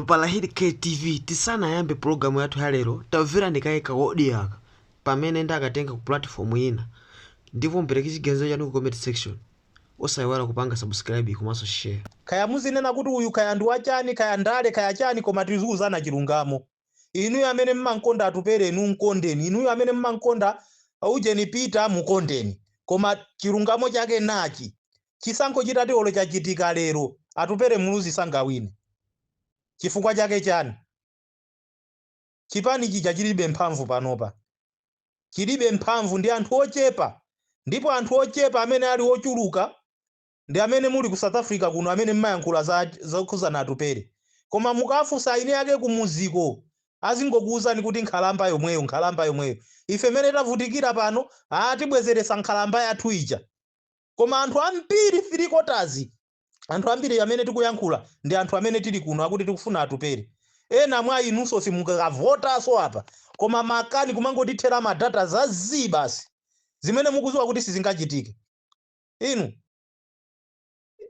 Palahidi KTV tisanayambe pulogalamu yathu ya lero, tamverani kaye ka audio aka pamene ndakatenga ku platform ina ndipo mupereke chiganizo chanu ku comment section. Osayiwala kupanga subscribe komanso share. Kaya muzinena kuti uyu kaya ndi wachani kaya ndale kaya chani koma tizikuuzana chilungamo. inuyo amene mmamkonda atupere inu mkondeni inuyo amene mmamkonda ujeni peter mkondeni koma chilungamo chake nachi chisankho chitati olo chachitika lero atupere muluzi sangawine chifukwa chake chani chipani chija chilibe mphamvu panopa chilibe mphamvu ndi anthu ochepa ndipo anthu ochepa amene ali ochuluka ndi amene muli ku south africa kuno amene mmayankhula zokhuzana atupele koma mukafunsa eni ake kumuziko azingokuuzani kuti nkhalamba yomweyo nkhalamba yomweyo ife mene tavutikira pano haa tibwezeresa nkhalamba yathu ija koma anthu ambiri three quarters anthu ambiri amene tikuyankhula ndi anthu amene tili kuno akuti tikufuna atupele ena mwa inunso simukavotaso apa koma makani kumangotithera madata za zii basi zimene mukuziwa kuti sizingachitike Inu,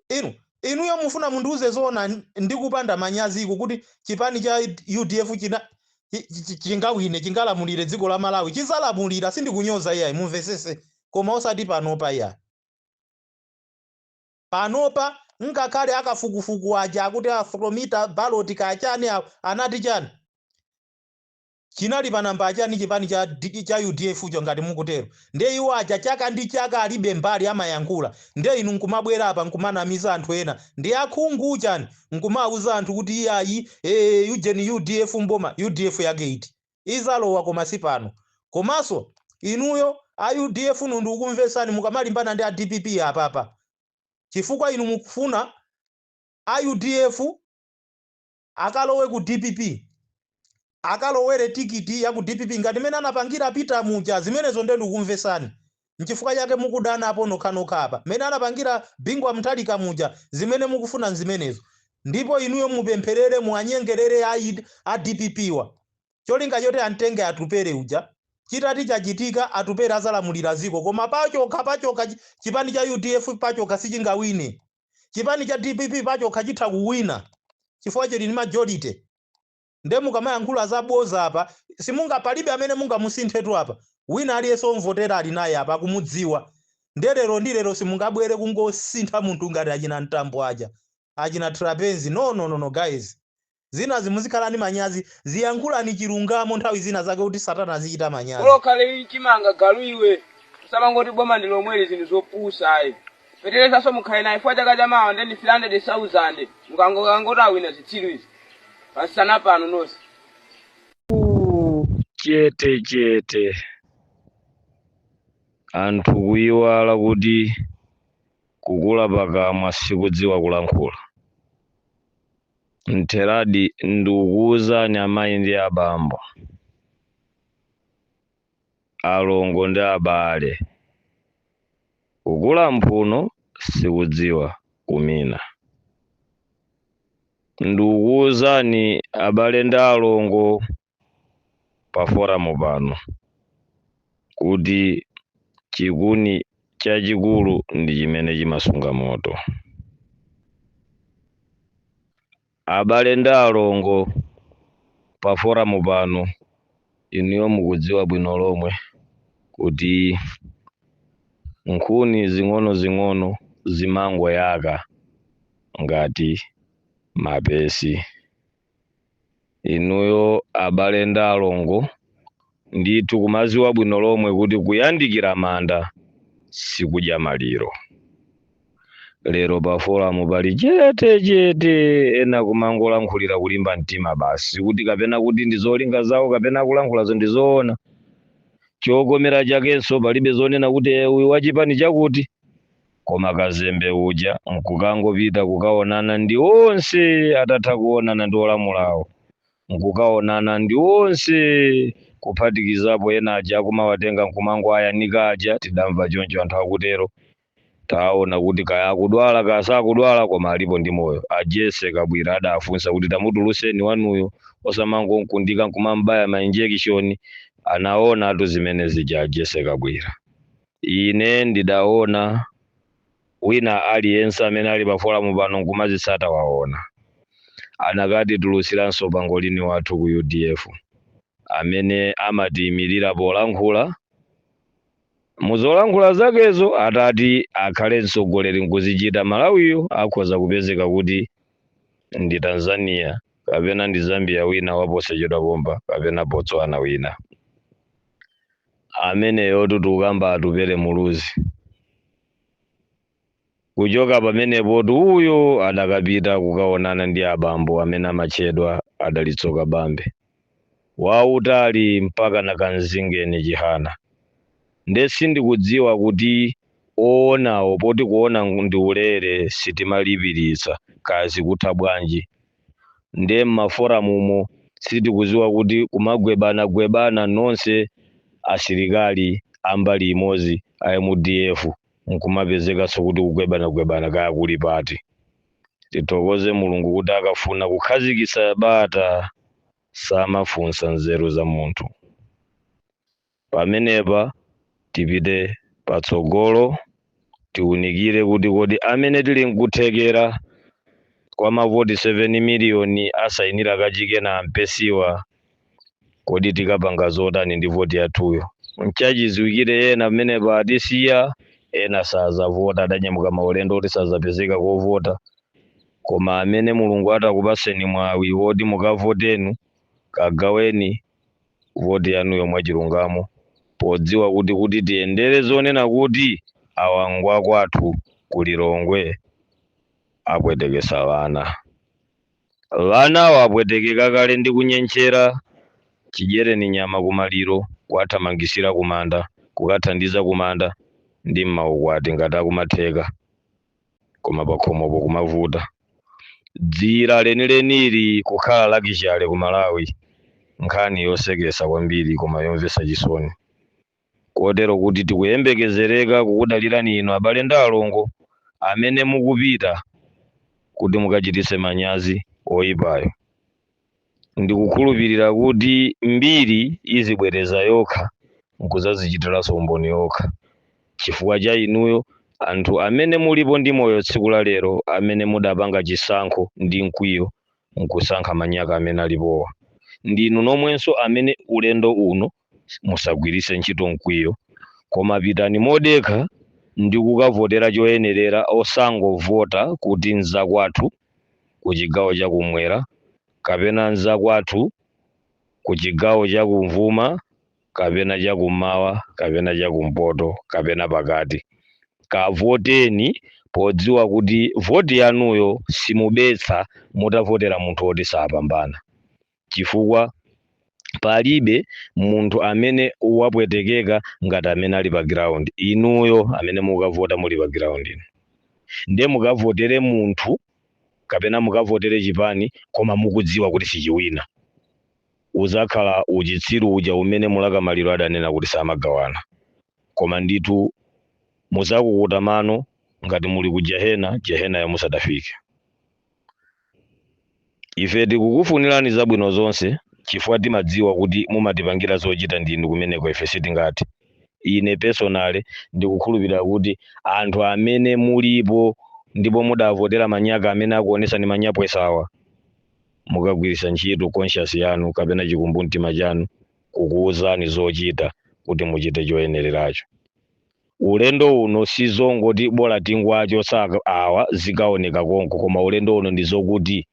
inu, inuyo mufuna mundiuze zoona n- ndi kupanda manyazi iku kuti chipani cha UDF chingawine chingalamulire dziko la Malawi chizalamulira sindikunyoza iyayi mumvesese koma osati panopa iyayi panopa ngakhale akafukufuku aja akuti afromita ballot kachani awo anati chani Chinali pa nambala chani chipani cha cha udf cho ngati mukutero ndiye iwo aja chaka ndi chaka alibe mbali amayankhula ndiye inu nkumabwera apa nkumanamiza anthu ena ndi akhungu chani nkumauza anthu kuti iyayi ee ujeni udf mboma udf yake iti izalowa koma sipano komaso inuyo a udf nu ndikukumvesani mukamalimbana ndi a dpp apapa chifukwa inu mukufuna a udf Akalowe ku dpp. Akalowere tikiti ya ku dpp ngati mmene anapangira Peter muja. Zimenezo ndiye ndikukumvesani. Nchifukwa chake mukudanapo nokhanokha apa. Mmene anapangira Bingu wa Mutharika muja. Zimene mukufuna nzimenezo. Ndipo inuyo mupempherere, muwanyengerere a a dpp wa. Cholinga choti amtenge Atupele uja. Chitati chachitika, Atupele azalamulira dziko. Koma pachokha, pachokha, chipani cha udf pachokha sichingawine. chipani cha dpp pachokha chitha kuwina chifukwa chili ndi majority nde mukamayankhula za boza apa simunga palibe amene mungamusinthetu apa wina aliyense omvotera ali naye apa akumudziwa nde lero ndi lero simungabwere kungosintha munthu ngati achina mtambo aja achina trapenzi no no no no guys zinazi muzikhala ndi manyazi ziyankhulani chilungamo nthawi zina zake kuti satana azichita manyazi. Bola ukhale chimanga galu iwe. Usamangoti boma ndi lomweli zinthu zopusa ayi. Feterezaso mukhale naye chifukwa chaka chamawa ndi 300,000 mukangokangoti awina zitsiru izi. Pasana pano nonse. chete chete anthu kuyiwala kuti kukula pakamwa sikudziwa kulankhula Mtheradi ndikukuwuzani amayi ndi abambo, alongo ndi abale, kukula mphuno sikudziwa kumina. Ndikukuwuzani abale ndi alongo pa foramu pano kuti chikuni chachikulu ndi chimene chimasunga moto. Abale ndi alongo pa foramu pano, inuyo mukudziwa bwino lomwe kuti nkhuni zing'onozing'ono zimangoyaka ngati mapesi. inuyo abale ndi alongo ndithu kumaziwa bwino lomwe kuti kuyandikira manda sikudya maliro lero pa foramu pali chete chete ena kumangolankhulira kulimba mtima basi kuti kapena kuti ndi zolinga zawo kapena akulankhulazo ndi zoona chokomera chakenso palibe zonena kuti "Eh, uyu wachipani chakuti Koma kazembe uja n'kukangopita kukaonana ndi onse atatha kuonana ndi olamulawo, n'kukaonana ndi onse kuphatikizapo ena aja akumawatenga n'kumangowayanika aja, tidamva choncho anthu akutero. Taona kuti kaya akudwala kaya sakudwala koma alipo ndi moyo, a Jessie Kabwila adafunsa kuti tamutulutseni wanuyo osamangom'kundika n'kumam'baya ma injection. Anaonatu zimene zija a Jessie Kabwila. Ine ndidaona, wina aliyense amene ali pa foramu pano nkumazitsata waona. Anakatitulutsiranso pangolini wathu ku udf amene amatiimirira polankhula. Mu zolankhula zakezo atati akhale mtsogoleri nkuzichita, Malawiyu akhoza kupezeka kuti ndi Tanzania kapena ndi Zambia wina waposachedwa pompa kapena Botswana wina. ameneyotu tikukamba atupele muluzi kuchoka pamenepotu uyo adakapita kukaonana ndi abambo amene amatchedwa a dalitso kabambe wautali mpakana kanzingeni chihana nde sindikudziwa kuti oonawo poti kuona ndi ulere sitimalipiritsa kaya zikutha bwanji nde mmaforamumo sitikuziwa kuti kumagwebana gwebana nonse asilikali ambali imozi a mdf nkumapezekanso kuti kugwebana gwebana kaya kuli pati tithokoze mulungu kuti akafuna kukhazikisa bata samafunsa nzeru za munthu. Pamenepa tipite patsogolo tiunikire kuti kodi amene tili nkuthekera kwa mavoti 7 miliyoni asainira kachike na ampesiwa kodi tikapanga zotani ndi voti yathuyo? Nchachiziwikire ena amenepa atisiya ena sazavota adanyamuka maulendo oti sazapezeka kovota koma amene Mulungu atakupaseni mwawi woti mukavotenu kagaweni voti yanuyo mwachilungamo podziwa kuti tiyendere zonena kuti awa ngwa kwathu ku Lilongwe apwetekesa ana. Anawo apwetekeka kale ndi kunyentchera chidyereni nyama kumaliro, kuwathamangisira kumanda, kukathandiza kumanda ndi m'maukwati ngati akumatheka. koma pakhomopo kumavuta dzira lenileni kukhala lakishale ku malawi nkhani yosekesa kwambiri koma yomvesa chisoni kotero kuti tikuyembekezereka kukudalirani inu abale ndi alongo amene mukupita kuti mukachititse manyazi oyipayo Ndikukhulupirira kuti mbiri izibwereza yokha n'kudzadzichitiranso umboni yokha. Chifukwa cha inuyo, anthu amene mulipo ndi moyo tsiku la lero amene mudapanga chisankho ndi mkwiyo n'kusankha manyaka amene alipowa. Ndinu nomwenso amene ulendo uno musagwiritse ntchito mkwiyo koma pitani modekha ndi kukavotera choyenerera osangovota kuti nzakwathu ku chigawo cha kumwera kapena nzakwathu ku chigawo cha kumvuma kapena cha kummawa kapena cha kumpoto kapena pakati kavoteni podziwa kuti voti yanuyo simubetsa mutavotera munthu woti sapambana chifukwa palibe munthu amene wapwetekeka ngati amene ali pa ground inuyo amene mukavota muli pa ground inu nde mukavotere munthu kapena mukavotere chipani koma mukudziwa kuti sichiwina uzakhala uchitsiru uja umene Mlaka Maliro adanena kuti samagawana koma ndithu muzakukuta mano ngati muli ku jehena jehenayo musadafike Ife tikukufunirani zabwino zonse, chifukwa timadziwa kuti mumatipangira zochita ndinu kumeneko, ife sitingathe. Ine, personally, ndikukhulupirira kuti anthu amene mulipo ndipo mudavotera manyaka amene akuoneka manyaka awa, mukagwiritsa ntchito conscience yanu kapena chikumbumtima chanu kukuuzani zochita kuti muchite choyenereracho. Ulendo uno sizongoti bola tingowachotsa awa zikaoneka konko koma ulendo uno ndizokuti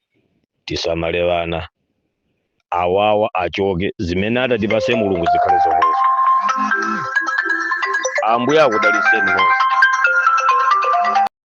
tisamale ana awawa achoke zimene atatipase Mulungu zikhale zomwezo ambuye akudaliseni nonse.